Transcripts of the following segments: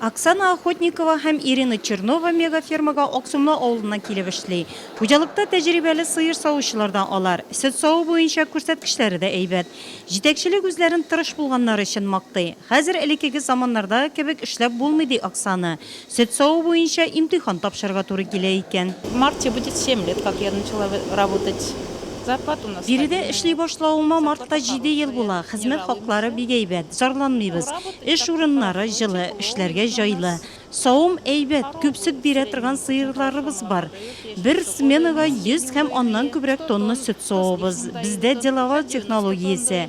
Оксана Охотникова һәм Ирина Чернова мегафермага Аксумлы авылыннан килеп эшли. Хуҗалыкта тәҗрибәле сыер савучылар да алар. Сөт саву буенча күрсәткечләре дә әйбәт. Җитәкчелек үзләрен тырыш булганнары өчен мактый. Хәзер элеккеге заманнардагы кебек эшләп булмый, ди Оксана. Сөт саву буенча имтихан тапшырырга туры килә икән. В марте будет семь лет, как я начала работать. Зарплата у нас стабильная. Биредә эшли башлавыма мартта җиде ел була. Хезмәт хаклары бик әйбәт, зарланмыйбыз. Эш урыннары җылы, эшләргә җайлы. Савым әйбәт, күп сөт бирә торган сыерларыбыз бар. Бер сменага 100 һәм аннан күбрәк тонна сөт савабыз. Бездә деловар технологиясе.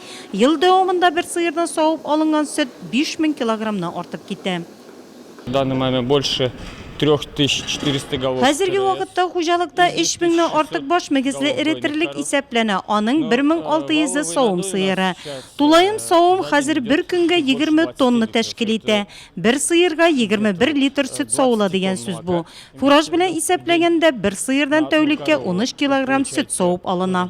Ел дәвамында бер сыердан савып алынган сөт 5000 килограммнан артып китә. В данный момент больше 3400 голов. Хәзерге вакытта хуҗалыкта 3000 нән артык баш мөгезле эретерлек исәпләнә, аның 1600 ы савым сыеры. Тулаем савым хәзер бер көнгә 20 тонна тәшкил итә. Бер сыерга 21 литр сөт савыла дигән сүз бу. Фураж белән исәпләгәндә, бер сыердан тәүлеккә 13 килограмм сөт савып алына.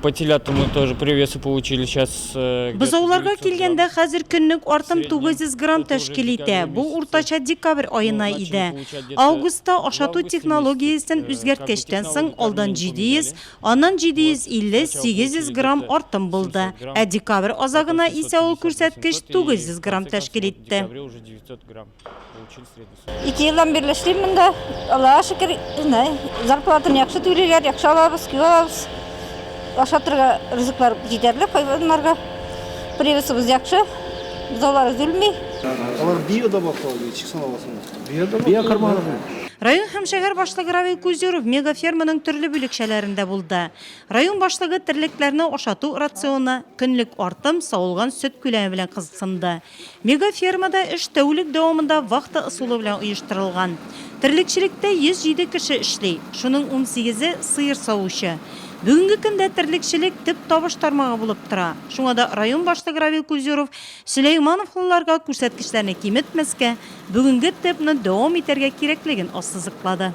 По телятам мы тоже привесы получили. Сейчас э, где-то Бозауларга 900 килгәндә грамм. хәзер көнлек артым 900 грамм тәшкил итә. Бу уртача декабрь аена иде. Августта ашату технологиясен үзгәрткәчтән соң алдан 700, аннан 750-800 грамм артым булды. Ә декабрь азагына исә ул күрсәткеч 900 грамм тәшкил итте. Декабря уже 900 грамм. Ике елдан бирле эшлим монда. Аллага шөкер, знай. Зарплатаны яхшы түлиләр, яхшы алабыз, киң алабыз. Аша торга ризыклар җитәрлек хайваннарга. Привесыбыз яхшы. Бозаулар өзелми. Алар биода баклау дип чиксан аласың. Биода. Биокармагы. Район һәм шәһәр башлыгы Равил Кузеров мегаферманың төрле бүлекчәләрендә булды. Район башлыгы терлекләрне ашату рационы, көнлек артым, савылган сөт күләме белән кызыксынды. Мегафермада эш тәүлек дәвамында вахта ысулы белән оештырылган. Терлекчелектә 107 кеше эшли, шуның унсигезе, сыер савучы. Бүгенге көндә терлекчелек төп табыш тармагы булып тора. Шуңа да район башлыгы Равил Кузеров сөләймановлыларга күрсәткечләрне киметмәскә, бүгенге темпны дәвам итәргә кирәклеген ассызыклады.